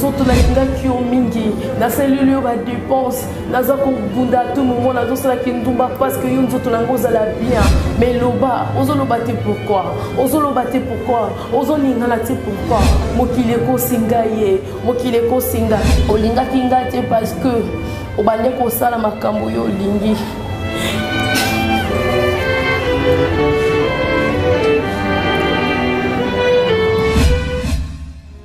nzoto nalingaki yo mingi nasaleli yo badepense naza kobunda to momo nazosala kindumba parce que yo nzoto na yango ozala bien mais loba ozoloba te pourkui ozoloba te pourkui ozolingana te pourkui mokili ekosi ngai ye mokili ekosi nga olingaki ngai te parce que obande kosala makambo yo olingi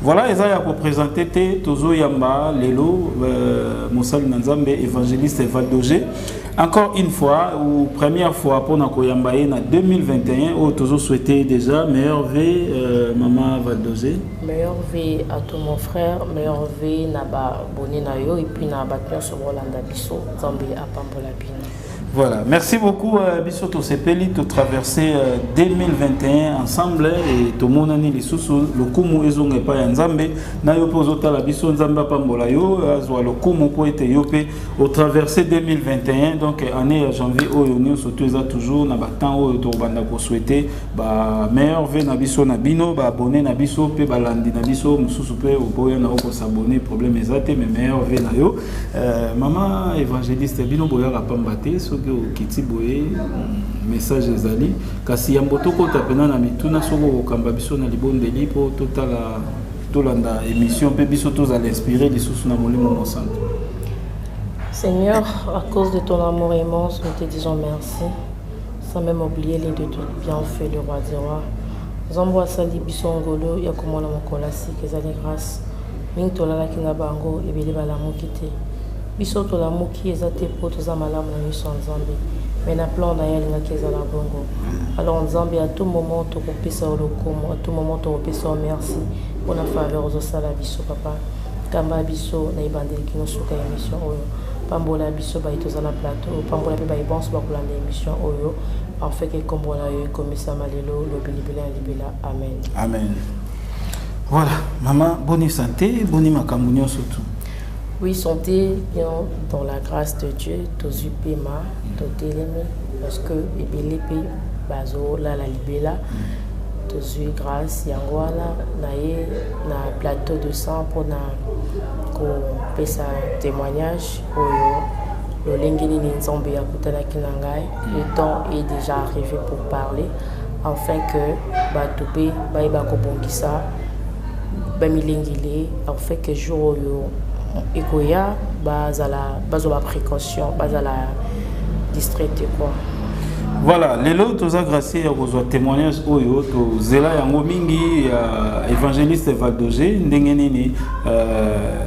Voilà, eza ya ko présenter te tozo yamba lelo euh, mosali na Nzambe évangéliste Valdoge. Encore une fois ou première fois pour na koyamba ye na 2021 oh tozo souhaiter déjà meilleur V euh, maman Valdoge. Meilleur V à tout mon frère, meilleur V na ba bonne na yo et puis na ba pion sur Rolanda biso, Nzambe apambola bino. Voilà, merci beaucoup euh, biso tosepeli to traverser euh, 2021 ensemble et tomonani lisusu lokumu ezonga epai ya Nzambe na yo mpe ozotala biso Nzambe apambola yo azwa lokumu mpo ete yo mpe otraverse 2021 donc année ya janvier oyo nyonso to eza toujours na batemps oyo tokobanda kosouhaite ba meilleur ve na biso na bino baabonne na biso mpe balandi na biso mosusu mpe oboya na yo kosabonne problème eza te mais meilleur ve na yo Euh, mama évangéliste bino boyaka pamba te soki okiti boye mm, message ezali kasi yambo tokota mpena na mituna soki okokamba biso na libondeli mpo totala tolanda émission mpe biso tozala inspiré lisusu na molimo mosantu Seigneur, à cause de ton amour immense, nous te disons merci, sans même oublier les deux bienfaits, le roi des rois. Zambo asali biso ngolo ya komona mokolo asika ezali grâce Mingi tolalaki na bango, ebele balamuki te. Biso tolamuki eza te po toza malamu na miso ya Nzambe, mais na plan na ye alingaki ezala bongo. Alors Nzambe, à tout moment tokopesa yo lokumu, à tout moment tokopesa yo merci pona faveur ozosala biso papa. Kamba biso na ebandeli kino suka ya emission oyo. Pambola biso baye toza na plateau, pambola pe baye banso bakolanda emission oyo afin que kombo na yo ekomisama lelo, lobi libela na libela. Amen. Amen. Voilà, maman, bonne santé, bonne makambo nyonso tout. Oui, santé bien dans la grâce de Dieu, tozui pema, totelemi parce que ebele pe bazo la la libela. tozwi grâce yango wana na ye na plateau de sang mpona kopesa témoignage oyo lolenge nini nzambe akutanaki na ngai Le temps est déjà arrivé pour parler afin que bato mpe bayeba kobongisa bamilengele afin que jour oyo ekoya bazala bazwa baprécaution bazala distraite quoi voilà lelo toza gracie ya kozwa témoignage oyo tozela yango mingi ya évangéliste valdoge ndenge nini euh,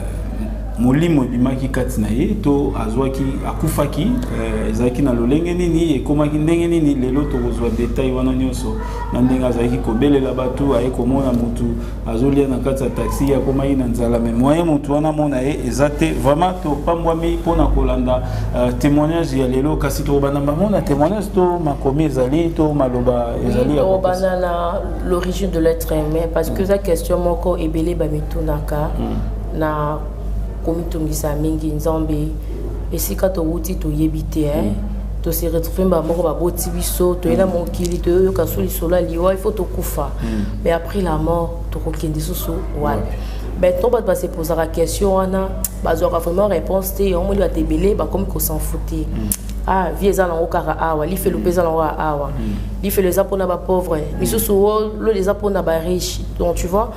molimo ebimaki kati na ye to azwaki akufaki eh, ezalaki na lolenge nini ekomaki ndenge nini lelo tokozwa detail wana nyonso na ndenge azalaki kobelela bato aye komona motu azolia na kati ya taxi akomaki na nzala me moyen motu wana amona ye eza te vraiment topambwami mpona kolanda eh, témoignage ya lelo kasi tokobanda bango na témoignage to makomi ezali to maloba ezali tokobanda na l'origine de l'être humain parce que eza question moko ebele bamitunaka mm. Na komitungisa mingi Nzambe esika towuti toyebi te hein. Mm. To se retrouver mba moko baboti biso toyela mm. mokili toyoyoka so lisolo ya liwa il faut tokufa mm. mais après la mort tokokende susu wana ben to bato base posaka question wana bazwaka vraiment réponse te yango moni bato ebele bakomi kosenfouter ah vie eza nango kaka awa lifelo mpe eza nango awa lifelo eza mpona bapauvre misusu lolo eza mpona bariche donc tu vois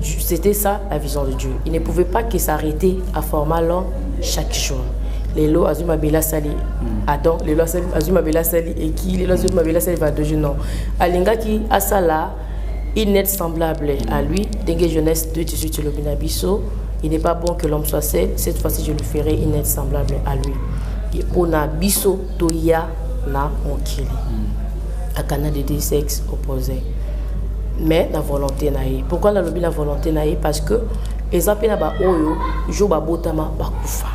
C'était ça la vision de Dieu. Il ne pouvait pas que s'arrêter à former l'homme chaque jour. lelo azwi mabele asali hmm. adam lelo azwi mabele asali eki lelo azwi mabele asali vadoge non alingaki asala une aide semblable à lui ndenge jeunesse 2018 elobi na biso il n'est pas bon que l'homme soit seul cette fois-ci je lui ferai une aide semblable à lui mpo na biso toya na mokili hmm. akana de deux sexes opposés mais na volonté na ye pourquoi nalobi na volonté na ye parce que eza mpe na baoyo jour babotama bakufa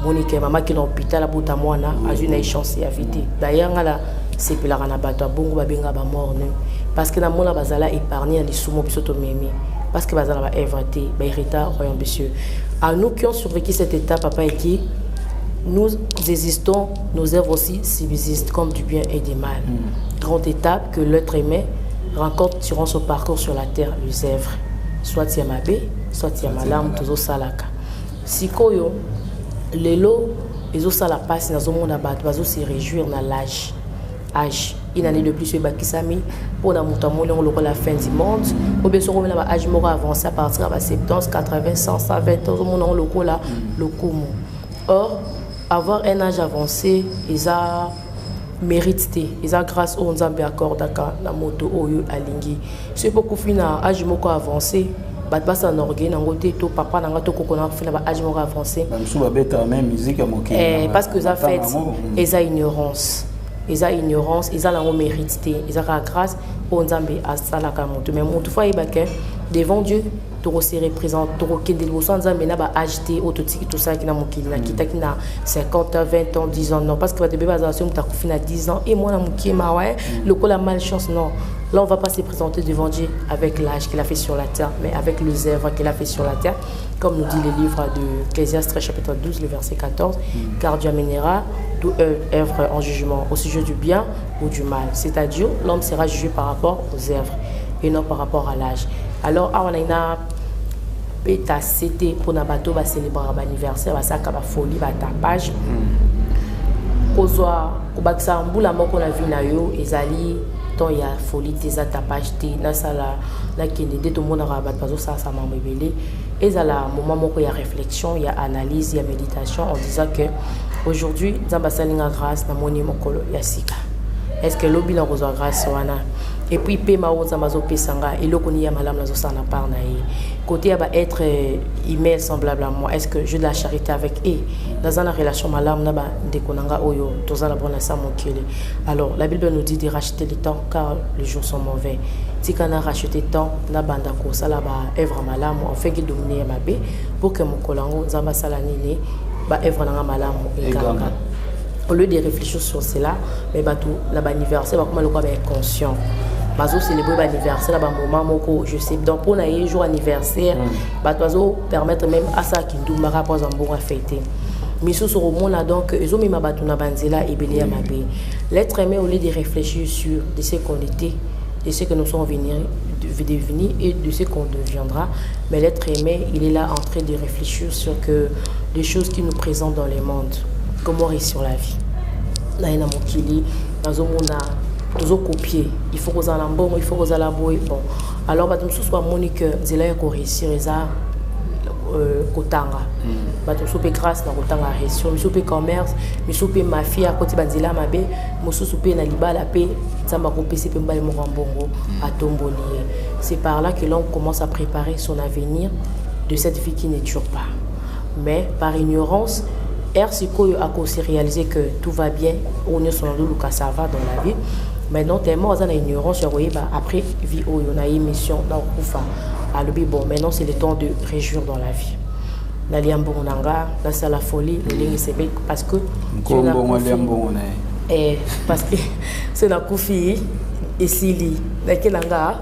monike mama kina hôpital abota mwana azwi na ye chance ya vie te d'ailleurs ngai nasepelaka na bato ya bongo babenga bamorne parce que namona bazala épargne ya lisumo biso tomemi parce que bazala baevre te baherita royaume de cieux à nous qui ont survécu cette étape papa eki nous existons Nos œuvres aussi subsistent comme du bien et du mal. Mm. Grande étape que l'être aimé rencontre durant son parcours sur la terre, les œuvres. Soit ya mabe, soit ya malamu tozosalaka. Sikoyo lelo ezosala mpasi nazomona bato bazose réjouir na lage age une année de plus ebakisami mpona moto amoni yango lokola fin du monde obie soki omela ba age moko avance à partir ya ba 70 80 100 120 ozomona yango lokola lokumu or Avoir un age avance eza merite te eza grâce oyo nzambe accordaka na moto oyo alingi soki bokufi na age moko avance bato basala na orgueil nango te to papa na nga to koko na kufi na ba age moko avance eh, parce que eza fete mm. eza ignorance eza ignorance eza nango mérite te eza kaka grâce oyo nzambe asalaka moto mais moto fo ayeba ke devant dieu toko se represente tokokende liboso ya nzambe na ba age te oyo totiki tosalaki na mokili mm. nakitaki na 50 ans 20 ans 10 ans non parce que bato ebele bazala soki moto akufi na 10 ans e mwana mokie mawa e mm. lokola malchance non Là, on va pas se présenter devant Dieu avec l'âge qu'il a fait sur la terre, mais avec les œuvres qu'il a fait sur la terre, comme nous dit le livre de Ecclésiastes, chapitre 12, le verset 14, mm. car Dieu amènera toute euh, œuvre en jugement au sujet du bien ou du mal. C'est-à-dire, l'homme sera jugé par rapport aux œuvres et non par rapport à l'âge. alors awa naina beta sete mpona bato oyo bacelebraka baanniversaire basalaka bafolie batapage hmm. kozwa kobakisa mbula moko na vie na yo ezali temps ya folie te eza tapage te nasala nakende nde tomonaka bato bazosalasa mambo ebele ezala moment moko ya réflexion ya analyse ya méditation en disant que aujourd'hui nzambe asali nga grâce namoni mokolo ya sika est ce que lobi nakozwa grâce wana et puis pema oyo nzambe azopesa nga eloko nini ya malamu nazosala na part na ye côté ya baêtre euh, email semblable à moi est ce que je de la charité avec e naza na relation malamu na bandeko na nga oyo toza na bona sa mokili alors la bible nous dit de racheter le temps car le jour sont mauvais tika na racheter temps nabanda kosala baœuvre malamu enfin kidomine ya mabe pour que mokolo yango nzambe asala nini baœuvre na nga malamu eganga au lieu de réfléchir sur cela mais bato na baanniversaire bakoma lokola ba inconscient bazocelebre baanniversaire na bamoment moko je sais donc mpo na ye jour anniversaire mm. bato bazopermettre même asala kindumbaka mpo azwa mbongo afei te misusu okomona donc ezomema bato na banzela ebele ya mabe l'être aimé au lieu de réfléchir sur de ce qu'on était de ce que nous sommes venir, de, devenir et de ce qu'on deviendra. Mais l'être aimé, il est là en train de réfléchir sur que les choses qui nous présentent dans le monde. comment réussir la vie naye na mokili nazomona tozokopier il faut kozala na mbongo il faut kozala boye bon alors bato mosusu bamoni que nzela ya koréussir eza euh, kotanga mm. bato mosusu mpe grâce na kotanga réussir mosusu mpe commerce mosusu mpe mafia akoti banzela mabe mosusu mpe na libala mpe nzambe akopesi mpe mbali moko ya mbongo mm. atomboli ye c'est par là que l'homme commence à préparer son avenir de cette vie qui ne dure pas Mais par ignorance, heure sikoyo ako se realiser que tout va bien, oyo nyonso na luluka ça va dans la vie. Mais non tellement aza na ignorance ya koyeba après vie oyo na émission na okufa alobi bon maintenant c'est le temps de réjouir dans la vie. nalia mbongo na nga nasala folie lolenge sebe parce que mbongo alia mbongo na ye eh, parce que se nakufi esili nake na nga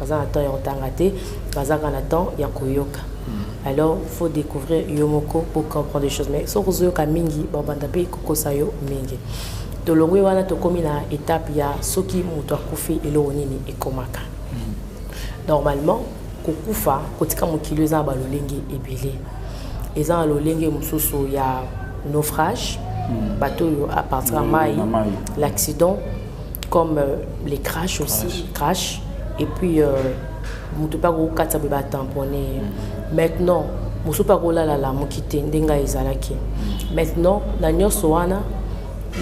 baza na temps ya kotanga te bazaka na temps ya koyoka hmm. alors faut découvrir yo moko pour comprendre des choses mais soki ozoyoka mingi babanda mpe kokosa yo mingi tolongwi wana tokomi na étape ya soki moto akufi eloko nini ekomaka hmm. normalement kokufa kotika mokili eza na balolenge ebele eza na lolenge mosusu ya naufrage hmm. bato oyo apartir ya mai l'accident comme euh, les crashs aussi, crash, crash et puis euh, moto mpe akokatisa boye batampone ye mm. maintenant mosusu mpe akolalala moki te nde ngai ezalaki mm. maintenant na nyonso wana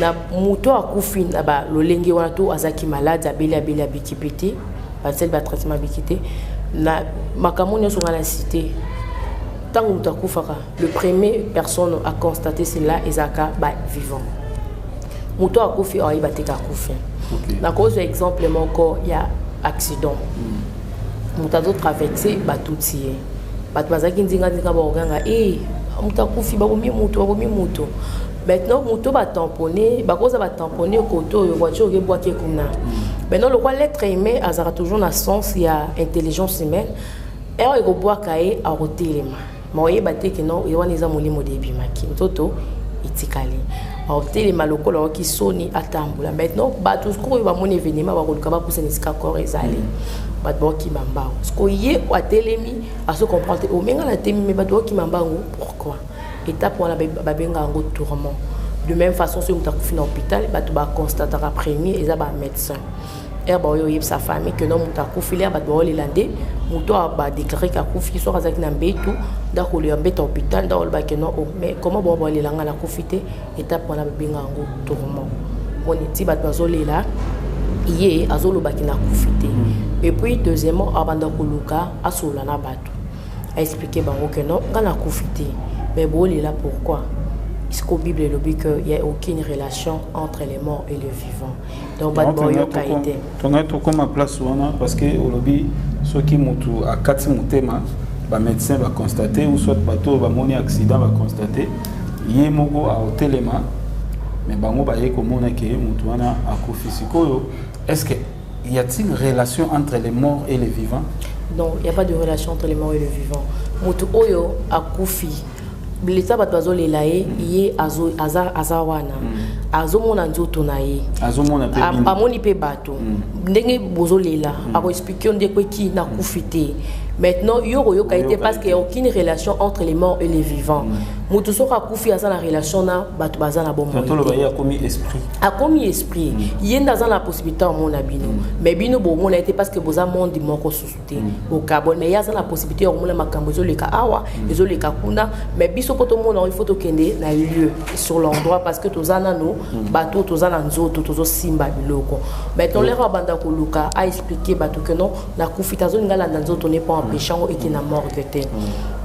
na moto akufi na balolenge wana to azalaki maladi abeli abeli abiki mpe te basali batraitement abiki te na makambo nyonso ngai na site ntango moto akufaka Le premier personne a constaté cela ezalaka ba vivant moto akufi ayeba te kakufi nakozwa exemple moko ya accident hmm. moto azotraverse batuti ye bato bazalaki nzinganzinga bakoganga e eh, moto akufi babomi moto babomi moto maintenant moto batampone bakoza batampone kote oyo voiture okebwaki kuna hmm. maintenant lokwa lettre humain azalaka toujours na sens ya intelligence humaine heure ekobwaka ye akotelema Mais oyeba te que non, wana eza molimo de ebimaki. Nzoto etikali otelema lokola oyoki soni atambola maintenant bato sikoyo oyo bamoni événement bakoluka bapusana esika kor ezali bato baokima mbango sikoyo ye oyo atelemi azo comprendre te omenga na temi me bato baokima mbango pourquoi étape wana babenga yango tourment de même façon soki moto akufi na hôpital bato baconstataka premier eza bamédecin ere baoyo oyebisa famille que no moto akufi lere bato baolela nde moto oyo badeklare ke akufi soki azalaki na mbetu nde akolela mbetu ya hôpital nde aoloba ke no o oh, mais comment bao baolela ngai nakufi te etape wana babenga yango tourment moni ti bato bazolela ye azolobaki nakufi te mm. et puis deuxièmement abanda koluka asolola na bato aexplike bango ke no ngai nakufi te mais boolela pourquoi siko bible elobi que ya aucune relation entre les morts et les vivants donc bato baoyoka ye te tongai tokoma place wana parce que olobi soki motu akati motema bamédecin baconstate ou soit bato oyo bamoni accident baconstate ye moko aotelema me bango baye komona ke motu wana akufi sikoyo est ce que y a-t-il relation entre les morts et les vivants donc il n'y a pas de relation entre les morts et les vivants moto oyo akufi blesa bato bazolela ye ye aza, aza wana mm. azomona nzoto na ye amoni mpe bato mm. ndenge bozolela mm. akoexplike yo ndeko eki nakufi te maintenant yo okoyoka ye te parce qu'il y a aucune relation entre les morts et les vivants mm. moto soki akufi aza na relation na bato baza na bomoakomi esprit ye nde aza na possibilité amona bino mais bino bomona ye te parce que boza monde moko susu te bokabwana mais ye aza na possibilité ya komona makambo ezoleka awa mm. ezoleka kuna mais biso mpo tomona yango ifo tokende na lieu sur l'endroit parce que toza nano mm. bato oyo toza na nzoto tozosimba biloko mais tolere mm. abanda koluka aexplike bato ke non nakufi te azolinga alanda nzoto ne mpo empêche yango eke na morgue te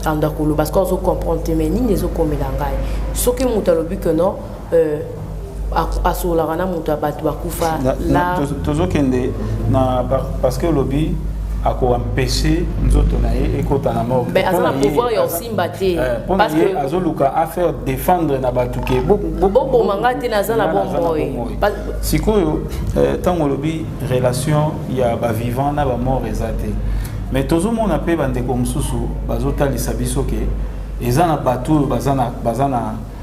anda koloba parce que azocomprendre te mais nini ezokomela ngai soki moto alobi ke non euh, asololaka na moto ya bato bakufa la tozokende na parce que olobi akoempeshe nzoto na ye ekota na morgue mais aza na pouvoir ya osimba te eh, mpona ye azoluka afaire défendre na bato ke boboma ngai te naza na bomoi sikoyo ntango eh, olobi relation ya bavivant na bamort eza te mais tozomona mpe bandeko mosusu bazotalisa biso ke eza na bato oyo baza na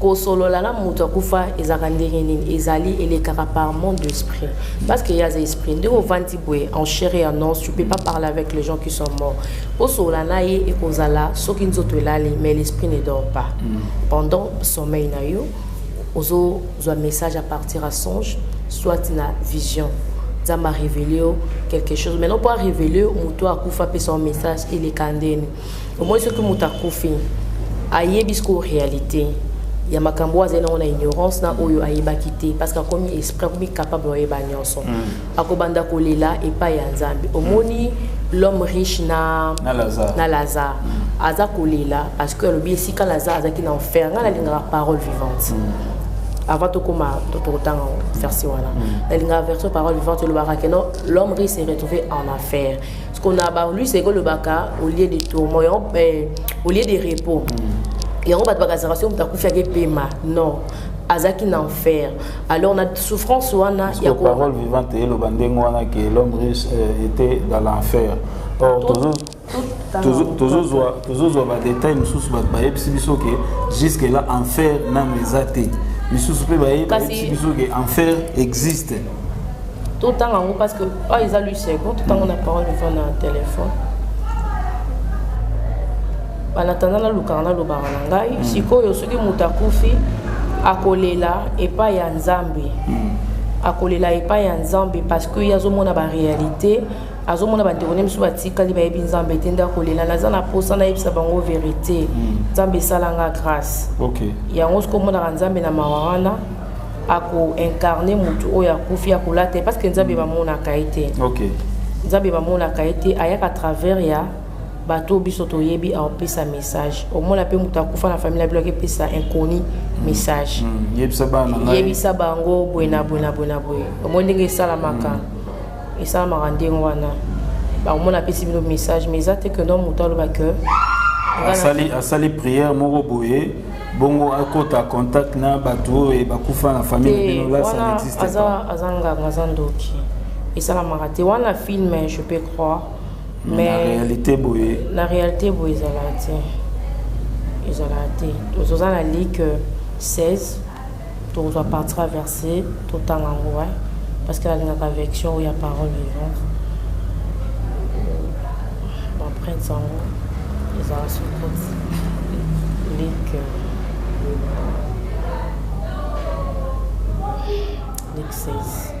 kosolola na moto akufa ezalaka ndenge nini ezali elekaka par monde d'esprit parce que yaza esprit ndenge ovandi boye en chair et en os tu peux pas parler avec les gens qui sont morts kosolola na ye ekozala soki nzoto elali mais l'esprit ne dort pas mm. pendant sommeil na yo ozozwa message à partir ya songe soit na vision nzambe arévele yo quelque chose maintenant mpo arévele moto akufa apesa yo message elekandeni omoni soki moto akufi ayebi sikoyo réalité ya makambo oyo azali nango na ignorance na oyo ayebaki te parce que akomi esprit akomi capable oyeba nyonso mm. akobanda kolela epai ya nzambe omoni l'homme riche na, na lazare, na lazare. Mm. aza kolela parce que alobi esika lazare azalaki na enfer ngai nalingaka parole vivante mm. avant tokoma tokotanga verse wana nalingaka version parole vivante elobaka keno l'homme riche se retrouvé en affaire Ce qu'on a barlu, c'est que le baka, au lieu de tourment, eh, au lieu de repos. Mm. Et on va te baka, ça va se faire, on va te faire, non. azaki na enfer alors na souffrance wana ya ko parole vivante eloba ndenge wana que l'homme riche euh, était dans l'enfer or toujours tozozwa badetail mosusu bato bayebisi biso ke jusque là enfer nano eza te misusu mpe bayebisi biso ke enfer existe totanga yango parce que oyo eza lui second totango na parole iva na telefone banatanda nalukaka nalobaka na ngai mm. sikoyo soki moto akufi akolela epai ya nzambe mm. akolela epai ya nzambe parce que ye azomona baréalité azomona bandeko ne misu batikali bayebi nzambe te nde akolela naza na mposa nayebisa bango verité mm. nzambe esalanga grâce okay. yango soki omonaka nzambe na mawa wana ako incarner mutu oyo akufi akolata parce que nzambe bamonaka ye te okay. nzambe bamonaka ye te ayaka travers ya bato biso toyebi aopesa message omona mpe moto akufa na famille na bino akepesa inconi message mm, mm, yebisa bango boye na boye na boye na boye omoni ndenge esalamaka mm. esalamaka ndenge wana omona apesi bino message mais eza te que no moto aloba que asali prière moko boye bongo akota contact na bato oyo bakufa na famille na bino là ça n'existe pas aza nganga aza ndoki esalamaka te wana film je peux croire mais na réalité boye na réalité boye ezalaka te ezalaka te toza na like 16 tokozwa parti traverse totanga yango wa parce que nalingaka vection oyo ya parole vivante baprinte yango ezala sokoti leke leke 16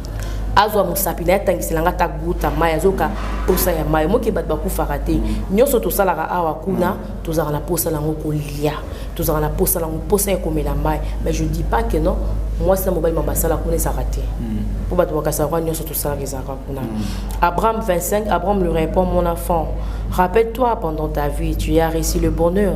azwa mosapi na ye atangisela nga ta guta mai azoka mposa ya mai moke bato bakufaka te nyonso tosalaka awa kuna tozalaka na mposa na yango kolia tozalaka na mposa na yango mposa ya komela mai mais je dis pas que non mwasi na mobali ma basala kuna ezalaka te mpo bato bakasaka kuna nyonso tosalaka ezalaka kuna abraham 25 abraham le répond mon enfant rappelle toi pendant ta vie tu as réussi le bonheur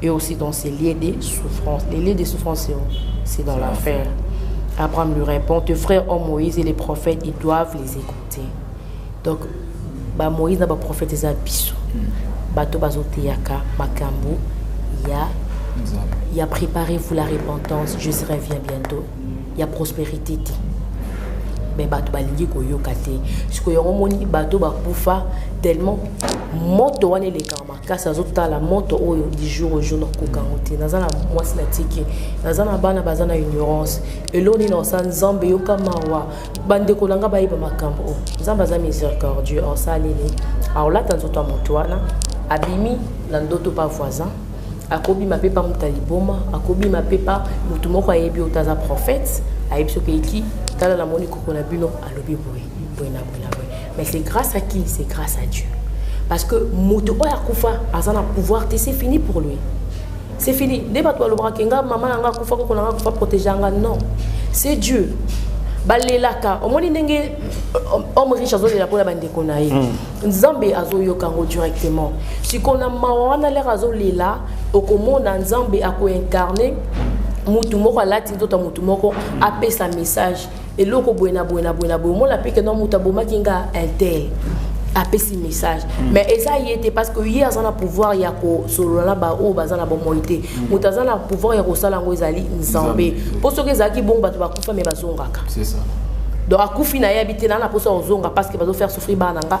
Et aussi dans ces lieux de souffrance. Les lieux de souffrance, c'est dans l'enfer. Abraham lui répond, tes frères ont Moïse et les prophètes, ils doivent les écouter. Donc, bah, Moïse n'a pas prophète et abisso. Hmm. Bato bazoteyaka makambo ya il y a préparez-vous la repentance, je serai bien bientôt. Il y a prospérité. Mais bato balingi koyoka te. Sikoyo yango moni bato bakufa tellement moto wana elekama. kasi nazotala moto oyo du jour au jour nakoka yango te naza na mwasi na tiki naza na bana baza na ignorance elo nini osa nzambe yoka mawa bandeko na ngai bayeba makambo oyo nzambe aza miséricordieux osaleli aolata nzoto ya moto wana abimi na ndoto pa voisin akobima mpe pa moto ya liboma akobima mpe pa moto moko ayebi oyo taza prophète ayebi soki eki tala namoni koko na bino alobi boye boye na boye na boye mais c'est grâce à qui c'est grâce à dieu parce que moto oyo akufa aza na pouvoir te c'est fini pour lui c'est fini nde bato balobaka ke nga mama na nga akufa koko na nga akufa protégea nga non c'est dieu balelaka omoni ndenge euh, homme riche azolela mpona bandeko na ye hmm. nzambe azoyoka yango directement sikoyo na mawa wana lere azolela okomona nzambe akoincarne mutu moko alati nzoto ya mutu moko apesa message eloko boye na boye na boye na boye omona mpe keno moto abomaki nga intel apesi message mm. mais eza ye te parce que ye aza na pouvoir ya kosolola na baoyo baza na bomoi te mm. moto aza na pouvoir ya kosala yango ezali nzambe mpo soki ezalaki bongo bato bakufa me bazongaka donc akufi na ye abite na na mposa kozonga parce que bazofaire souffrir bana na nga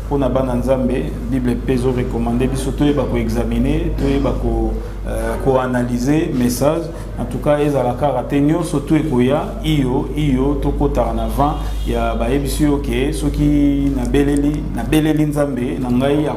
mpo na bana nzambe bible mpe ezo recommande biso toyeba koexamine toyeba ko koanalyse euh, message en tout cas ezala kaka te nyonso to ekoya iyo iyo tokotaka na vent ya bayebisi yo ke soki nabeleli nabeleli nzambe na ngai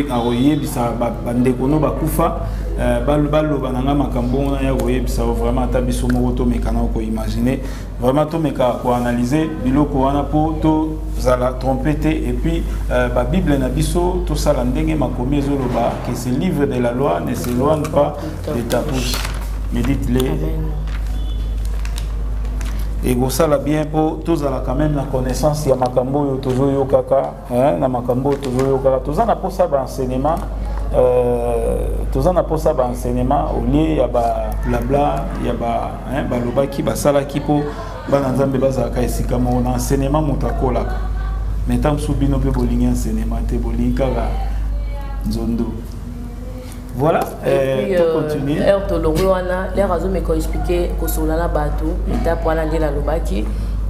akoyebisa bandeko no bakufa euh, baloba na ngai makambo wana ya koyebisa yo vraiment ata biso moko tomekana koimagine Vraiment tomeka ko analyser biloko wana po to zala tromper te et puis euh, ba Bible na biso to sala ndenge makomi ezoloba que ce livre de la loi ne s'éloigne pas de ta bouche. Médite-le. Et ça la bien po to zala quand même la connaissance ya makambo yo tozo yokaka eh, na makambo oyo tozoyokaka toza na mposa baenseignement euh, toza na mposa baenseignement olie ya bablabla ya eh, balobaki basalaki mpo bana nzambe bazalaka esika moko na enseignement moto akolaka mai ntango mosusu bino mpe bolingi enseignement te bolingi kaka nzondo Voilà, euh, puis, euh, continue. Heure to longue wana, l'air azo me ko expliquer ko sola na batu, étape wana nde na lobaki.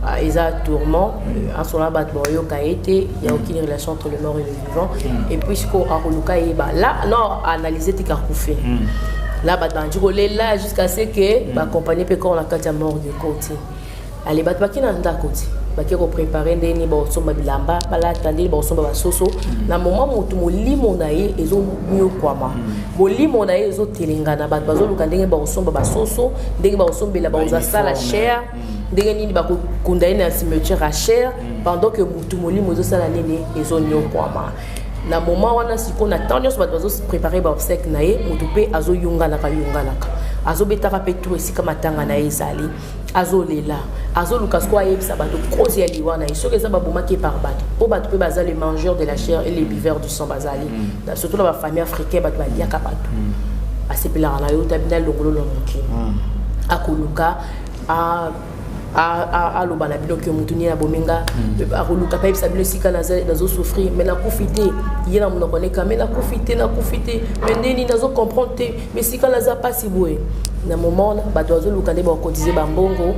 Ah, eza tourment asola euh, bato baoyoka ye te il y a aucune relation entre le mort et le vivant mm. et puis sikoyo akoluka yeba là non analyse tika kufe mm. là bato bandi kolela jusqu'à ce que mm. baaccompagne mpe corps na kati ya morgue cote ale bato bake na ndako ti bake koprepare ndenge nini bakosomba bilamba balata ndenge bakosomba basoso mm. na moma motu molimo na ye ezonyokwama mm. molimo na ye ezotelengana bato bazoluka ndenge bakosomba basoso ndenge bakosombela bakozwa sala chere mm. ndenge nini bakokunda ye na cimetière ya chere pendant que motu molimo ezosala nini ezonyokwama na moma wana sikoyo na ntango nyonso bato bazoprepare baobsèque na ye motu mpe azoyunganaka yunganaka azobetaka mpe tour esika matanga na ye ezali azolela azoluka sikoyo ayebisa bato cause ya liwa na ye soki eza babomaki ye par bato mpo bato mpe baza le mangeur de la chair et les buveurs du sang bazali mm. surtout na bafamille africain bato baliaka bato mm. asepelaka na yo tabi na longolo na mokili mm. akoluka aloba na bino ke motu nini abomi nga akoluka mpe ayebisa bino esika nazosouffrir mai nakufi te ye na monoko neka mai nakufi te nakufi te mai ndeni nazo comprendre te mais sikala aza mpasi boye na moment wana bato bazoluka nde bakotize bambongo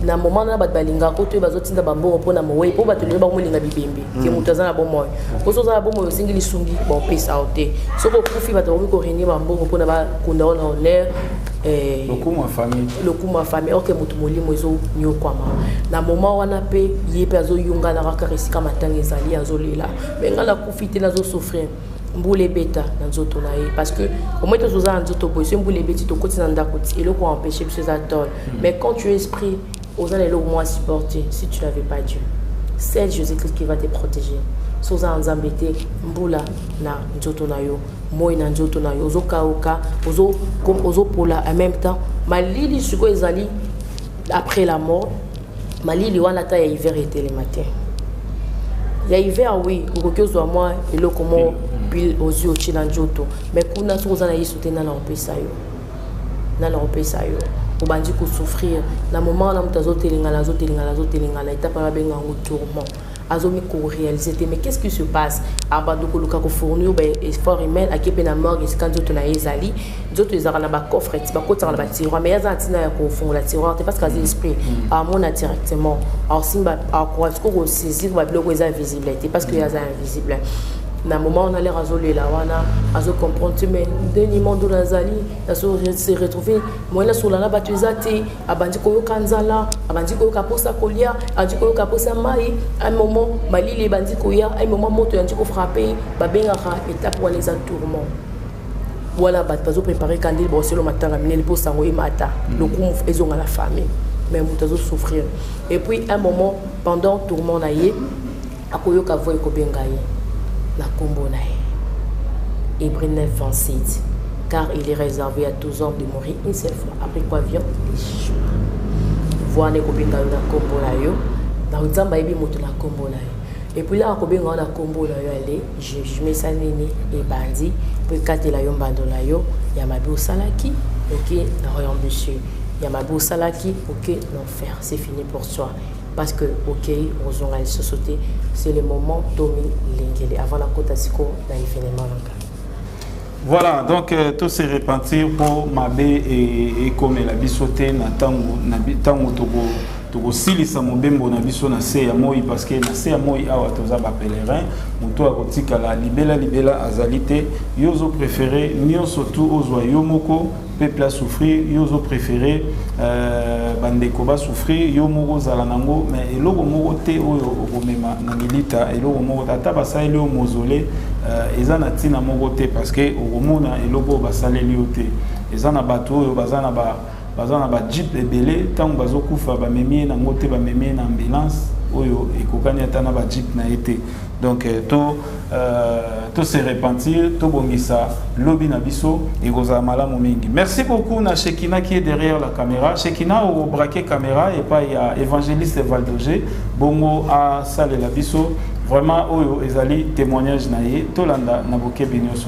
na moment wana bato balingaka oyo bazotinda bambongo mpo na mowei mpo bato lelo bakomolinga bibembe ke mm. moto aza na bomoi mpo soki oza na bomoi osengi lisungi baopesa yo te soki okufi bato bakoki korenie bambongo mpona bakunda yo na honneur eh, lokumu ya famille lokumu ya famille orke moto molimo ezonyokwama na moment wana mpe ye mpe azoyunganaka kaka esika matanga ezali azolela me ngai nakufi te nazosouffrir mbula ebeta na nzoto na ye parce que omoi tozo oza na nzoto boye soki mbula ebeti tokoti na ndako ti eloko empêche biso eza tole hmm. mais quand tu es esprit oza na eloko mwa supporte si tu n'avais pas dieu c'est jésus christ qui va te protéger so oza na nzambe te mbula na nzoto na yo moi na nzoto na yo ozokauka ozopola en même temps malili sikoyo ezali après la mort malili wana ata ya hiver etelema te ya hiver oui okoki ozwa mwa eloko moko pile ozwi otye na nzoto mai kuna soki oza na yesu te nana kopesa yo nana kopesa yo obandi kosouffrir na moment wana moto azotelengana azotelengana azotelengana etapa babenga yango tourment azo mi ko realiser te mais qu'est-ce qui se passe abando koluka ko fournir ba effort humain ake pe na morgue esika nzoto na ye ezali nzoto ezalaka na ba coffre ti bakotaka na ba tiroir mais aza ntina ya kofungola tiroir te parce que aza mm. esprit mm. amona directement aosimba akoka siko kosaisir babiloko eza visible te parce que mm. aza invisible na moment wana lere azolela wana azocomprendre te mais nde nimando nazali nazo se retrouve moyen nasolana bato eza te abandi koyoka nzala abandi koyoka mposa kolia abandi koyoka mposa mai un moment malili ebandi koya un moment moto yandi kofrape babengaka etape wana eza tourment wana bato bazoprépare kandeli boselo matanga minene mpo sango emata mm. lokumu ezonga na famille mais moto azosouffrir et puis un moment pendant tourment na ye Akoyoka voix ekobenga ye na kombo na ye. Hébreu 9, 27. Car il est réservé à tous hommes de mourir une seule fois, après quoi vient le jugement. Voix na ekobenga yo na kombo na yo, na Nzambe ayebi moto na kombo na yo. epuis laka kobenga yo na nkombo na yo ale jugement esali nini ebandi mpo ekatela yo mbando na yo ya mabe osalaki oke na royaume de cieux ya mabe osalaki oke na enfer c'est fini pour toi parce que okei okozonga lisusu te c'est le moment tomi lengele avant nakota sikoyo na evenement na ngai voilà donc euh, to se repentir mpo mabe e, ekomela biso te na ntango na ntango toko tokosilisa mobembo na biso na se ya moi parce que na se ya moi awa toza bapèlerin moto akotikala libela libela azali te yo ozo préféré nyonso tu ozwa yo moko peuple a souffrir yo ozo préféré euh, bandeko ba souffrir yo moko ozala nango mais eloko moko te oyo okomema na milita eloko moko te ata basaleli yo mozole euh, eza na ntina moko te parce que okomona eloko oyo basaleli yo te eza na bato oyo baza na ba baza na bajeep ebele ntango bazokufa bamemi ye nango te bamemi ye na ambulance oyo ekokani ata na bajeep na ye te donc euh, to Euh, to se repentir tobongisa lobi na biso ekozala malamu mingi merci beaucoup na shekina qui est derrière la caméra shekina obraquer caméra epai ya évangéliste valdoge bongo asalela biso vraiment oyo ezali témoignage na ye tolanda na bokebi nyonso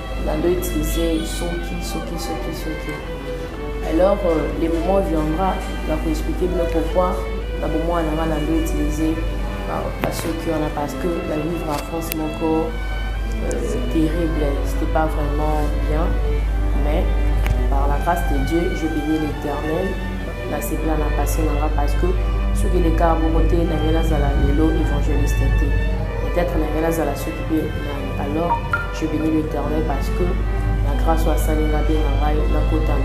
bando utilize soki soki soki soki alors euh, le moment viendra ya koexplike bino pourquoi na bomwana nanga na ndo utilize basoki wana parce que la vivre en france moko euh, terrible c'était pas vraiment bien mais par la grâce de dieu je bénis l'éternel nasepela na pasi nanga parce que soki lekaka moko te na ngai nazala lelo évangéliste te peut-être na ngai nazala soki mpe alors Je bénis l'Éternel parce que la grâce soit salée la bien en rail, la côte en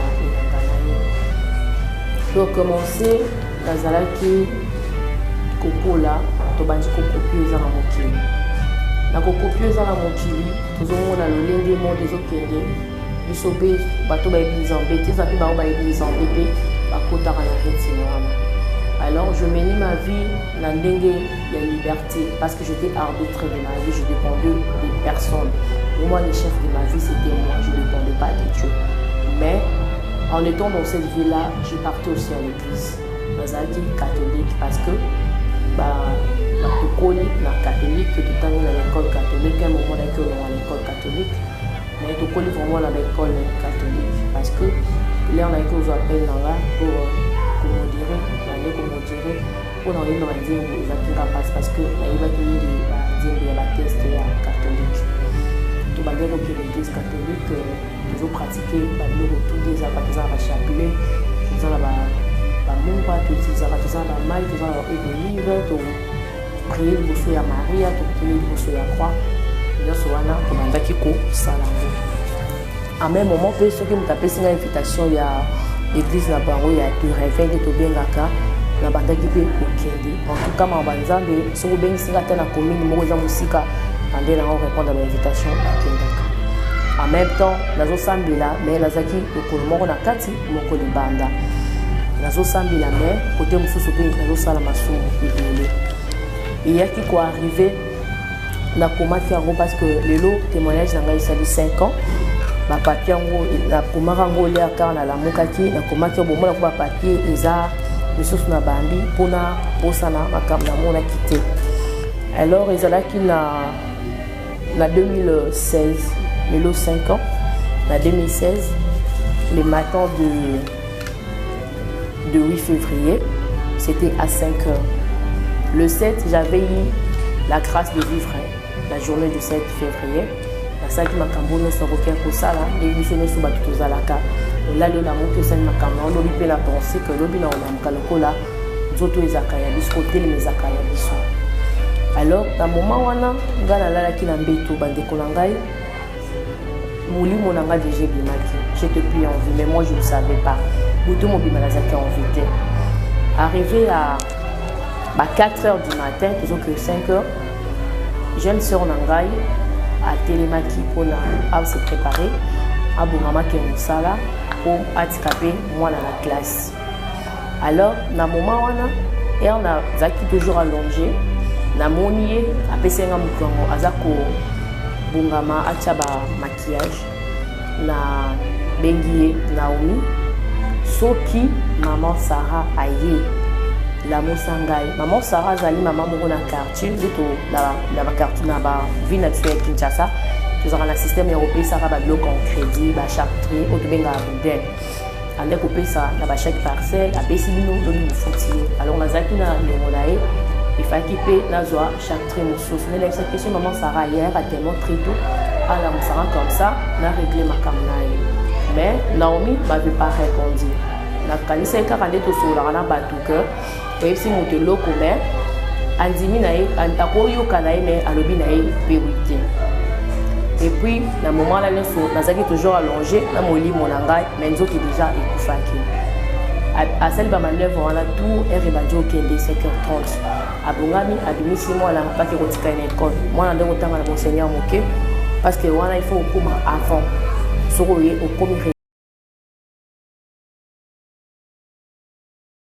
Donc, commencer, nazalaki kokola tobandi kokopio eza na mokili na kokopio eza na mokili tozomona lolenge monde ezokende biso mpe bato bayebi nzambe te eza mpe bango bayebi nzambe mpe bakotaka na retine wana alors je meni ma vie na ndenge ya liberté parce J'étais arbitre de ma vie, je dépendais de personne. Pour moi, le chef de ma vie, c'était moi, je ne dépendais pas de Dieu. Mais en étant dans cette vie-là, je partais aussi à l'église. nazalaki catholique parce que tokoli na catholique totangi na l'école catholique un moment naki olonga na école catholique mais tokoli vraiment na baekole catholique parce que lere nayaki ozwa appel na nga pour komodire nande komodire mpo na koyemba banzembo ezalaki nga mpasi parce que nayebaki mingi banzembo ya bateste ya catholique tobandaki kokende église catholique euh, tozopratike babiloko tudi ezalaka toza na bachapelet toza na bamungwa tozalaka toza na mai toza na baolive toprie liboso ya maria tokuteli liboso ya croix nyonso wana tobandaki kosala yango en même moment mpe soki moto apesi ngai invitation ya église na bango ya turinvin nde tobengaka nabandaki mpe kokende en tout cas mama nzambe soki obengisi ngai ata na commune moko eza mosika bande na yango répondre ba invitation akendaka en même temps nazosambela mais nazalaki lokolo moko na kati moko libanda nazosambela mais kote mosusu mpe nazosala masumu ebele eyaki koarrive nakomaki yango parce que lelo témoignage na ngai esali 5 ans bapapie yango nakomaki yango olia kar nalamukaki nakomaki yango bomonako bapapie eza misusu na bambi mpona bosana makambo namonaki te alors ezalaki na na 2016 lelo 5 ans na 2016 le matin de de 8 février, c'était à 5 heures. Le 7, j'avais eu la grâce de vivre la journée du 7 février. nasalaki makambo nyonso akoki kosala ndenge biso nyonso bato tozalaka olali yo na moki osali makambo yango lobi mpe na pense ke lobi na olamuka lokola nzoto ezalaka ya biso kotelema ezalaka ya biso alors na moma wana ngai nalalaki na mbeto bandeko na ngai molimo na nga deja ebimaki je te plie en vie mais moi je ne savais pas butu mobima nazalaki en vie te arrivé à ba 4 heures du matin tozoke 5 heures jeune sœur na ngai atelemaki mpona ase préparer abongamaki ya mosala mpo atika mpe mwana na classe alors na moment wana heure nazalaki toujours allonge namoni ye apesi nga moto yango aza kobongama atya ba maquillage na bengi ye naomi soki maman sara aye lamusa ngai maman sara azali mama moko na quartier nde na baquartier na baville na biso ya kinshasa tozalaka na systeme ya kopesaka babiloko en crédit bachartrie oyo tobengaka boudin ande kopesa na bachèque parcelle apesi bino lobi mofuti ye alors nazalaki na ndongo na ye efaki mpe nazwa chaque trai mosusu nalakisa question maman sara hier atelement très tôt alamusaka comme ça na réglé makambo na ye mais naomi bavait pas répondu nakanisaki kaka nde tosololaka na bato que oyebisi moto eloko me andimi na ye akoyoka na ye me alobi na ye pewi te epuis na moment wana nyonso nazalaki toujours allonge na molimo na ngai me nzoki deja ekufaki asali bamanœuvre wana tour ere ebandi okende 7h30 abongami abimisi mwana apaki kotika ye na ekole mwana nde kotanga na monseigneur moke parce que wana il faut okoma avant soki oye okomi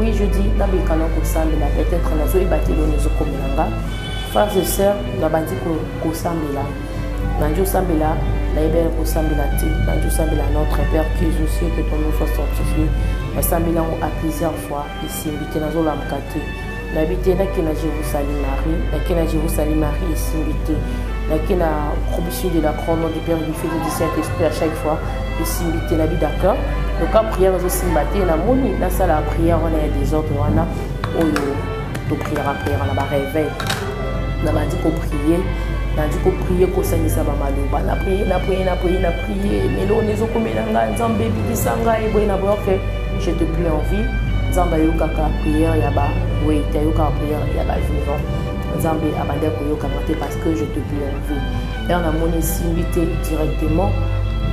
oui je dis nabika na kosambela peut-être nazoyeba te eloni ezokomela nga frères et sœurs nabandi kosambela nandi osambela nayebi yaya kosambela te nandi osambela notre père qui est aux cieux que ton nom soit sanctifié nasambeli yango à plusieurs fois esimbi te nazolamuka te nayebi te nake na jérusalem marie nake na jérusalem marie esimbi te nake na promission de la croix nom du père du fils et du saint esprit à chaque fois esimbi te nabi d'accord loka prière ezosimba te namoni nasala prière wana ya desordre wana oyo topriaka priaka na bareveil na bandi koprie nandi koprie kosangisa bamaloba na prie na prie na prie na prie meloni ezokomela ngai nzambe ebikisa ngai boye na boyoke je te prie en vie nzambe ayokaka priere ya bawete ayokaka priere ya bavivant nzambe abandi akoyokama te parce que je te prie en vie ere namoni esimbi te directement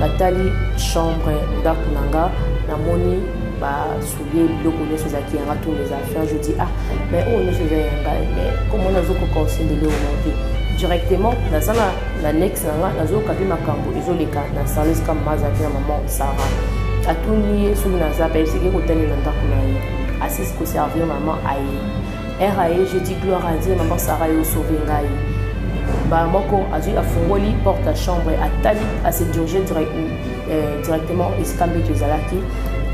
natali chambre ndako na nga namoni ba ye biloko nyonso ezalaki yanga tour eza affaire je dis ah mais oyo nyonso eza ya ngai mais comme wana azokoka osendeli oyo monte directement naza na na nex na nga nazoyoka mpe makambo ezoleka na sales kama mazalaki na mama sara atuni ye soki naza mpe eseke kotali na ndako na ye asisi koservir mama aye r aye je dis gloire a dieu mama sara yo osauve ngai mbala moko azwi afungoli porte ya chambre atali asedirige direct Euh, directement esika mbeto ezalaki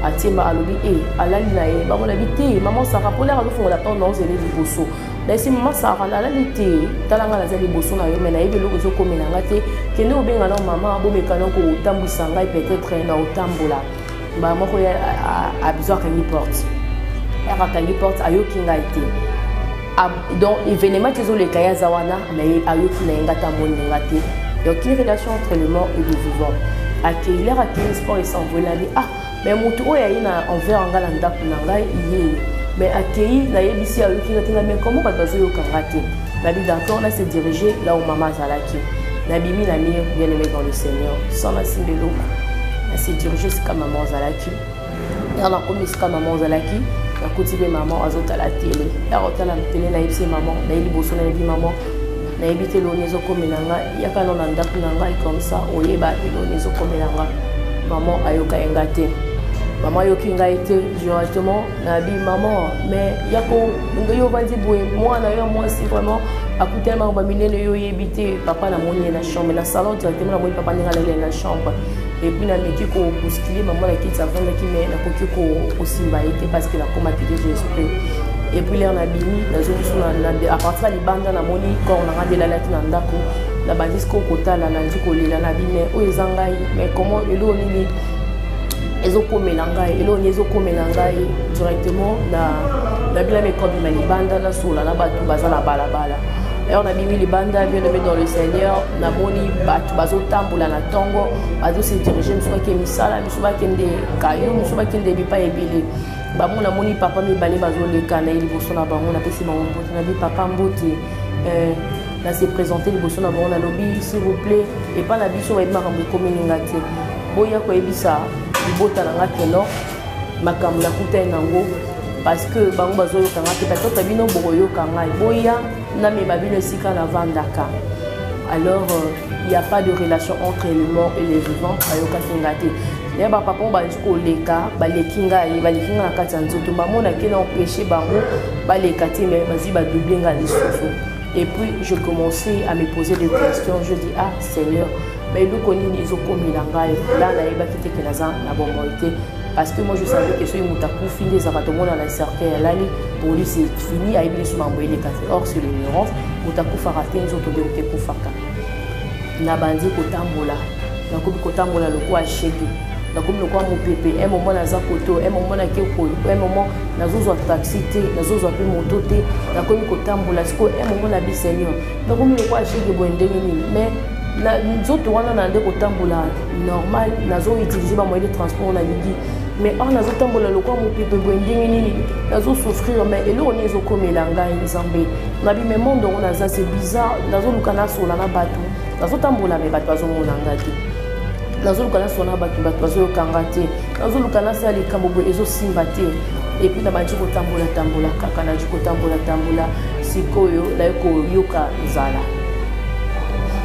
atimba alobi e alali na ye bango nabi te mama sara mpo laka azofungola porte na ozele liboso nayesi mama sara nalali te tala ngai naza liboso na yo mai nayebi eloko ezokomela ngai te kende obenga nao mama bomeka nao kotambwisa ngai peut-être na otambola mbala moko ye abizo akangi porte yaka akangi porte ayoki ngai te Ah, donc événement ti ezoleka ye aza wana mais ayoki na ye nga ta amoni nga te donc une relation entre le mort et le vivant akeilere akei sport esanvolani ah mais motu oyo aye na envers nga na ndako na ngai iye mais akei nayebisi ayoki nga te na bien comment bato bazoyoka nga te nabi d'accord na se diriger là où mama azalaki nabimi na mire bien aimé dans le seigneur sans nasimba eloko na se diriger esika mama azalaki ntango nakomi esika mama ozalaki nakuti mpe mama azotala tele ntango otala tele nayebi se mama nayebi liboso nayebi mama nayebi te loni ezokomela nga yaka no na ndako na ngai comme ça oyeba te loni ezokomela nga mama ayoka ye nga te mama ayoki ngai te directement nabi mama mais yako ndenge yo ovandi boye mwana yo ya mwasi vraiment akutelemaka baminene yo oyebi te papa namoni ye na chambre na salon directement namoni papa ndenge alali ye na chambre epuis nameki ko boskile mama na kiti avandaki mai nakoki kosimba ye te parce que nakomaki deja esprit epuis lere nabimi nazongisu a partir ya libanda namoni corps nanga nde elalaki na ndako nabandi siko kotala nandi kolela nabi mai oyo eza ngai mai comment eloko nini ezokomela ngai eloko nini ezokomela ngai directement na nabila mekobima libanda nasola na bato baza na balabala alors nabimi libanda bien aimé dans le seigneur namoni bato bazotambola na ntongo bazose dirige mosusu bakende misala misu bakende kayo mosusu bakende bipai ebele bango namoni papa mibale bazoleka na ye liboso na bango napesi bango mbote nabi papa mbote eh, na se présente liboso na bango nalobi s'il vous plaît epai na biso bayebi makambo ekomelinga te boya koyebisa libota na nga keno makambo nakutai nango parce que bango bazoyoka nga te bato na bino bokoyoka ngai boya namema bino esika navandaka alors il euh, n'y a pas de relation entre le mort et les vivants ayokaki nga te naye bapapa oyo bazali koleka baleki ngai baleki ngai na kati ya nzoto bamonaki na empêche bango baleka te mais bazwi badouble ngai lisusu et puis je commençais à me poser des questions je dis ah seigneur baeloko nini ezokomela ngai la nayebaki te ke naza na bomoi te parce que moi je savais que soki moto akufi nde ezalaka tomona na cercueil alali poli c'est fini ayebi lisu mambo eleka te or sur l'ignorance moto akufaka te nzoto nde moto ekufaka nabandi kotambola nakomi kotambola lokola shege nakomi lokola mopepe un moment naza koto un moment nake koyo un moment nazozwa taxi te nazozwa mpe moto te nakomi kotambola sikoyo un moment na biseigneur nakomi lokola shege boye ndenge nini mais nzoto wana na nde kotambola normal nazo utiliser ba moyens de transport na lingi mais or nazo tambola lokola mopepe boye ndenge nini nazo souffrir mais eloko nini ezokomela ngai nzambe na bimemo ndongo naza se bizarre nazoluka nasola na bato nazotambola me bato bazomona ngai te nazoluka nasola na bato bato bazoyoka ngai te nazoluka nasala likambo boye ezosimba te epuis nabandi kotambola tambola kaka nandi kotambola tambola sikoyo naye koyoka nzala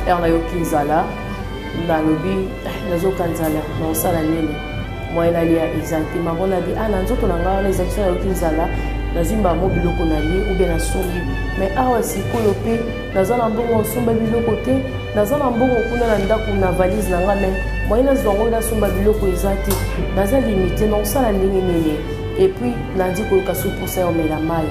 ere nayoki nzala nga alobi nazoka nzala naosala nini moyen nalia eza te mama nabi a ah, na nzoto na ngai wana ezalaki so nayoki nzala nazwi mbamo biloko na ye obe nasombi mai awa sikoyo mpe naza na mbongo osomba biloko te naza na mbongo kuna na ndako na valise na ngai mai moyen nazwa yango nasomba biloko eza te naza limite na kosala ndenge nini et puis nandi koyoka su mposa ya omela mai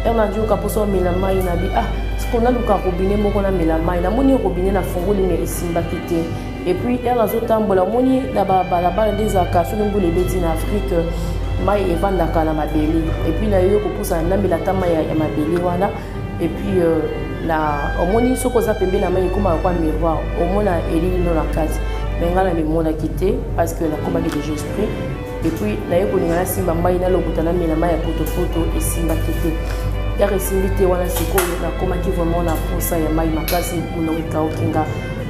ere nandi yoka mposa omela mai nabi ah siko naluka robine moko namela mai namoni robine nafungoli me esimbaki te et puis ere nazotambola omoni na babalabala nde ezalaka soki mbula ebeti na afrike mai evandaka na mabele et puis nayoki kopusana namela ata mai ya mabele wana et puis euh, na omoni soki oza pembeni na mai ekomaka kwa miroir omona elili no na kati me ngai namimonaki te parce que nakomaki déjà esprit depuis naye kolinga nasimba mbai nalokuta namela mai ya potopoto esimbaki te yaka esimbi te wana sikoyo nakomaki vraiment na posa ya mai makasi monoko ekauki nga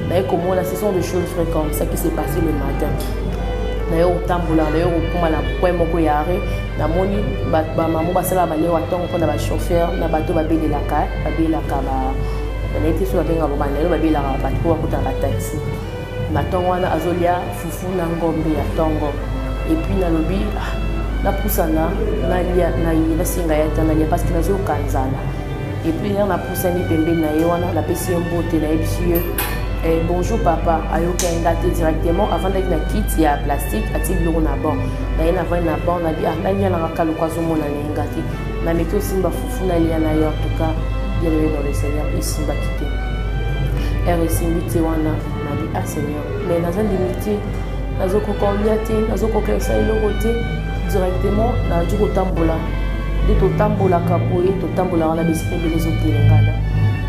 naye komona ce sont des choses vrai comme ça qui s'est passé le matin naye kotambola naye kokoma na point moko ya arret namoni bamamo basalaka baneo batongo mpo na bachauffeur na bato babelelaka babelaka nayebi te so babengaka bobanda lelo babelaka bato mpo bakotaka bataxi na tongo wana azolia fufu na ngombe ya tongo epuis nalobi ah, napusana nalia naye nasenga ya ta nalia parceke nazoyoka nzala epuis na napusani pembeni na ye wana napesi ye mbote nayebisi ye eh, bonjour papa ayokaki nga te directement avandaki na kiti ya plastique ati biloko na banc naye navandi na banc nabi ah nalialangaka loko azomona naye nga te naleki osimba fufu nalia na yo antuka bien aimé dans le seigneur esimbaki te ere esimbi te wana nabi a ah, seigneur mais naza limite nazokoka olia te nazokoka esa eloko te directement naji kotambola nde totambolaka boye totambolaka na bisika ebele ezotelengana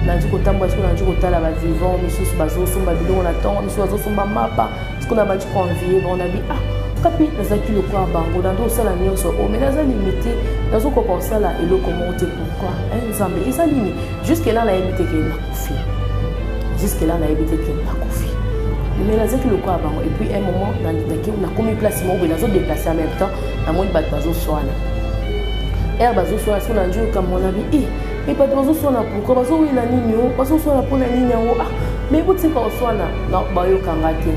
naji kotambola siko naji kotala bavivant misusu bazosomba biloko na ntongo misusu bazosomba mapa sikoyo nabandi koenvie bango nabi ah kapi nazalaki lokola bango nando osala nyonso oyo oh, mai naza limite nazokoka kosala eloko moko te pourkoi eh, nzambe eza nini juske la nayebi te ke nakufi juske la nayebi te ke nakufi mais nazalaki lokola bango epuis un moment nakomi place moko boye nazodeplace en même temps namoni bato bazoswana ere bazoswana siko na njoyoka monabi e eh, e bato bazoswana pourkui bazowela nini o bazoswana mpo na nini yango ah mai botika koswana bayokanga te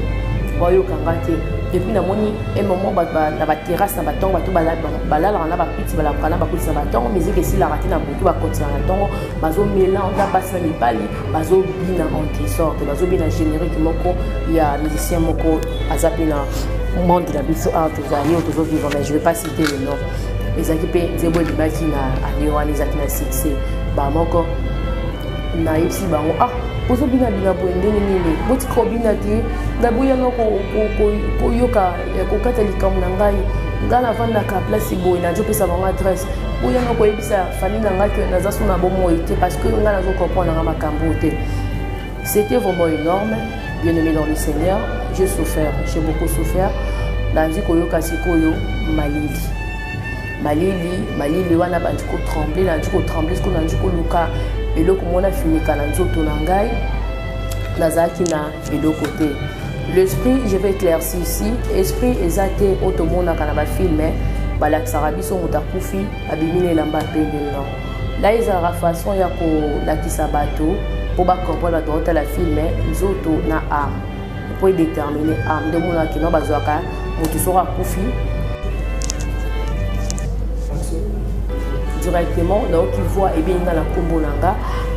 bayokanga te epuis namoni e moment na baterrasse na batongo bato balalaka na bapiti balambuka na bakoti na batongo miziki esilaka te na butu bakontina na ntongo bazomelange na basi na mibali bazobina en desordre bazobina générique moko ya musicien moko aza mpe na monde na biso awa tozali oyo tozovivre mais je vais pas citer le nom ezalaki mpe nzembo ebimaki na année wana ezalaki na succès bamoko nayebisi bango ah ozobina bina boye ndenge nini botika obina te naboyanga koyoka eh, kokata likambo na ngai ngai navandaka place boye nazopesa bango adresse boyanga koyebisa famille na ngai ke naza so na bomoi te parce que ngai nazokomprendre nanga makambo te C'était vraiment énorme, bien-aimé dans le Seigneur. J'ai souffert, j'ai beaucoup souffert. Nandi koyoka sikoyo malili. Malili, malili wana bandi ko trembler, nandi ko trembler, sikoyo nandi koluka eloko mona finika na nzoto na ngai. Nazalaki na eloko te. L'esprit, je vais éclaircir ici, esprit eza te otomonaka na ba films, hein. balakisaka biso moto akufi abimi na elamba pembe non ngai ezalaka façon ya kolakisa bato mpo bacomprendre bato baotala filme nzoto na arme mpo edetermine arme nde omonaka kino bazwaka moto soko akufi directement nayoki voi ebengi nga na nkombo na nga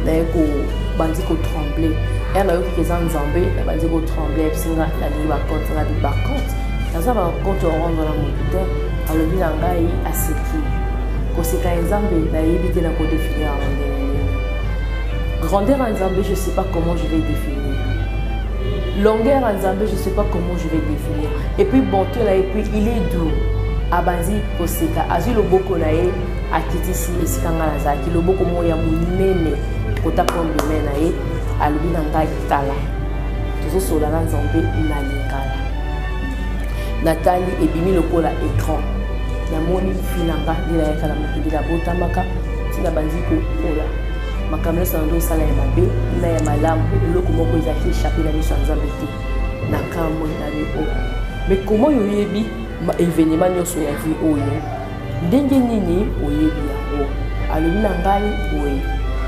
naye kobandi kotremble ya nayokiki eza nzambe nabandi kotremble yebisi nga nalingi bacompte nga bibacompte naza bacompte orendre na moto te alobi na ngai aseki koseka ya nzambe nayebi te na kodefinir yango ndenge nini grandeur ya nzambe je sais pas comment je vais définir longueur ya nzambe je sais pas comment je vais définir et puis bonté na ye puis il est doux abanzi koseka azwi loboko na ye akitisi esika ngai nazalaki loboko moko ya monene kota kondome na ye alobi na ngai tala tozosola na nzambe na lingala natali ebimi lokola écran namoni finanga nde nayaka na mokili nabotamaka ntina bandi kokola makambo nyonso nando osala ya mabe na ya malamu eloko moko ezalaki echape na miso ya nzambe te na kamwe na yo oyo mais comment yo oyebi événement nyonso ya vie oyo ndenge nini oyebi yango alobi na ngai boye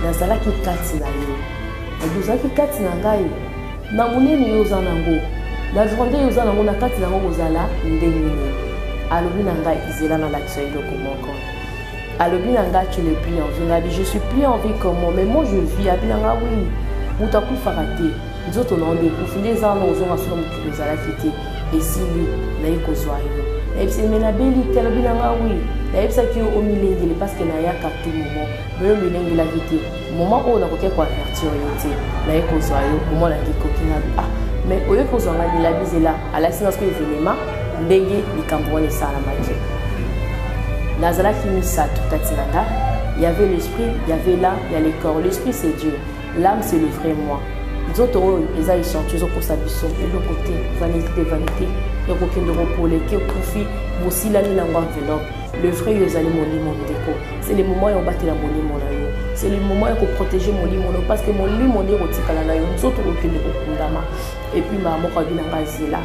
nazalaki kati na yo ozalaki kati na ngai Na monene yo oza nango, na grandeur yo oza nango, na kati nango kozala ndenge nini? Alobi na ngai, zela na lakisa yo eloko moko. Alobi na ngai, tu n'es plus en vie. Ngai, je suis plus en vie comment? Mais moi je vis. Abi na ngai, oui, moto akufaka te. Nzoto na yo nde ekufi, nde eza wana ozonga solo mokili ozalaki te. Esili, naye kozwa yo. Nayebisaki, mais nabeli te, alobi na ngai, oui. nayebisaki yo omilengele parceke nayaka tu momo me yo omilengelaki te Moment oyo nakoki ko avertir yo te, naye kozwa yo, moment nalingi koki na ah mais oye kozwa nga lela bizela alakisi nga soki evenema ndenge likambo wana esalamaki nazalaki misato kati na nga y avait l'esprit y avait là y a le corps l'esprit c'est dieu l'âme c'est le vrai moi nzoto oyo eza echantion ezokosa biso eloko te vanité vanité ekokende kopoleke okufi bosilani nango enveloppe Le vrai yo ezali molimo ndeko. C'est le moment ya kobatela molimo na yo. C'est le moment ya koprotéger molimo na yo parce que molimo nde ekotikala na yo nzoto kokende kokundama. Et puis mama moko abi na ngai zela.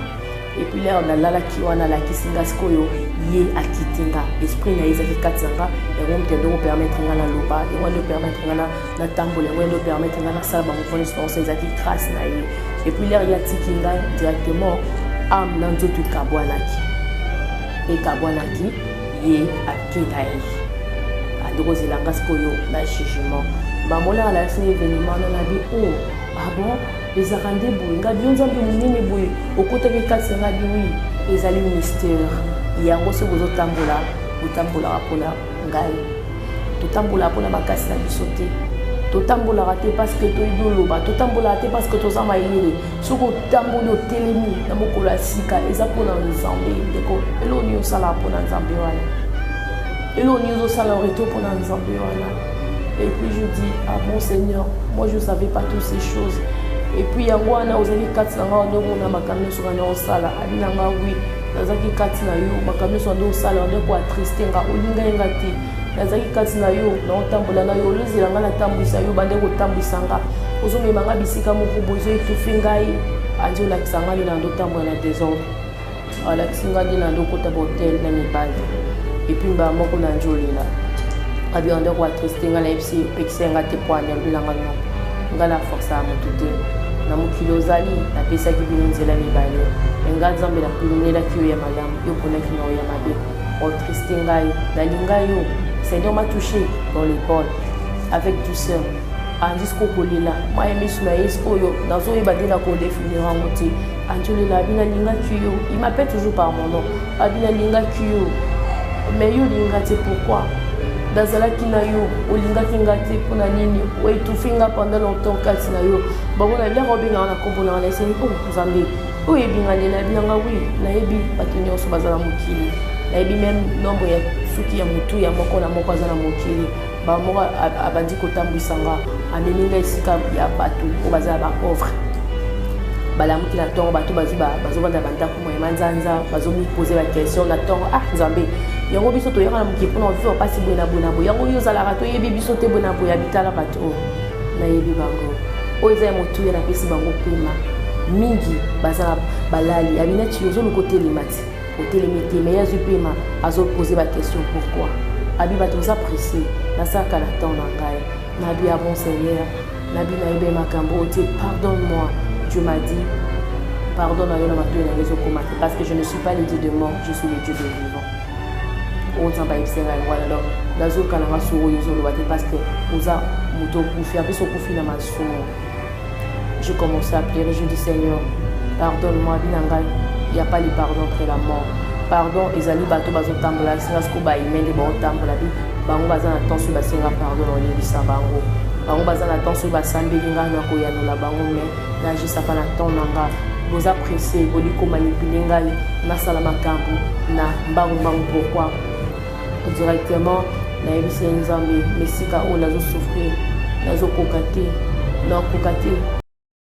Et puis lere nalalaki wana alakisi nga sikoyo ye akiti nga esprit na ye ezalaki kati na nga yango moto yango ekopermettre nga naloba yango nde ekopermettre nga na natambola yango endo permettre ngai nasala bamouvement nyonso banso ezalaki grâce na ye epuis lere ye atiki ngai directement ame na nzoto ekabwanaki ekabwanaki ye akenda ye adokozela ngai sikoyo na jugement bamona alakisi na evenema wana nabi o oh, abon ah ezalaka nde boye ngai bino nzambe monene boye okotaki kati na ngai biwi ezali mistere yango soki ozotambola otambolaka mpona ngai totambolaka mpona makasi na biso te totambolaka te parce que toyebi oloba totambolaka te parce que toza mayele soki otamboli otelemi na mokolo ya sika eza mpona nzambe ndeko eloko nini osalaka mpona nzambe wana eloko nini ozosala orete mpona nzambe wana et puis je dis ah mon seigneur moi je savais pas toutes ces choses et puis yango wana ozali kati na ngai wana omona makambo nyonso wana osala abi na ngai oui nazalaki kati na yo makambo nyonso nde osala nde koatriste nga olinga ye nga te nazalaki kati na yo naotambola na yo olozela nga natambwisa yo bande kotambwisa nga ozomema nga bisika moko boye ezoetufi ngai andi olakisa nga nde na ndotambola na desordre alakisi nga nde na ndokota bahotel na mibali epuis mbala moko na njolela abiyanda koatriste nga na yebisi epekisa nga te po anyambela nga noko Nga na forsa mutu te na mokili ozali napesaki bino nzela mibale me nga nzambe napimnelaki yo ya malamu yo ponaki na yo ya mabe otriste ngai nalinga yo seigneur ma touché dans l'épaule avec douceur andisko kolela maye misu na ye sikoyo nazoyeba nde na kodefinir yango te Angelina abi nalingaki yo il m'appelle toujours par mon nom abi nalingaki yo mais yo olinga te pourquoi nazalaki na yo olingaki nga te mpo na nini oetufi nga pendant longtemps kati na yo bango na biaka obengaka na nkombo nanga naeseli o oh, nzambe oyebi nga nde nayebi nanga wi nayebi bato nyonso baza na mokili nayebi meme nombre ya suki ya motu ya moko na moko aza na mokili Mbala moko abandi kotambwisa nga amemi nga esika ya bato oyo baza ya bapauvre balamuki na ntongo bato bazwi bazovanda bandako moye manzanza bazomipose baquestion na ntongo ah nzambe yango biso toyaka na mokili mpona viva mpasi boye na boye na boye yango yo ozalaka toyebi biso te boye na boye ya bitala bato oyo nayebi bango oyo eza ya motuya napesi bango mpema mingi baza balali abinati ozoluka otelema te otelemi te mais azwi pema azopose baquestion pourquoi abi bato boza presse nasaka na temps na ngai nabi ya bon seigneur nabi nayebe makambo oyo te pardon moi dieu m'a dit pardon na yo na matoi na yo ezokoma te parce que je ne suis pas le dieu de mort je suis le dieu de vivant oyo nzambe ayebisa ngai yango wana donc nazokana nga soko oyo ezoloba te parce que oza moto okufi apesi okufi na masumu Je commençais à pleurer, je dis Seigneur, pardonne-moi, binanga, il n'y a pas de pardon après la mort. Pardon, ezali bato bazotambola esenga siko baimende baotambola bi bango baza na temps oyo basenga pardon na oyebisa bango bango baza na temps oyo basambeli ngai na koyanola bango me nagisaka na temps na ngai boza presse boliko manipule ngai nasala makambo na mbangumbangu pourkui directement nayebisi ye nzambe mesika oyo nazo souffrir nazokoka te nakoka te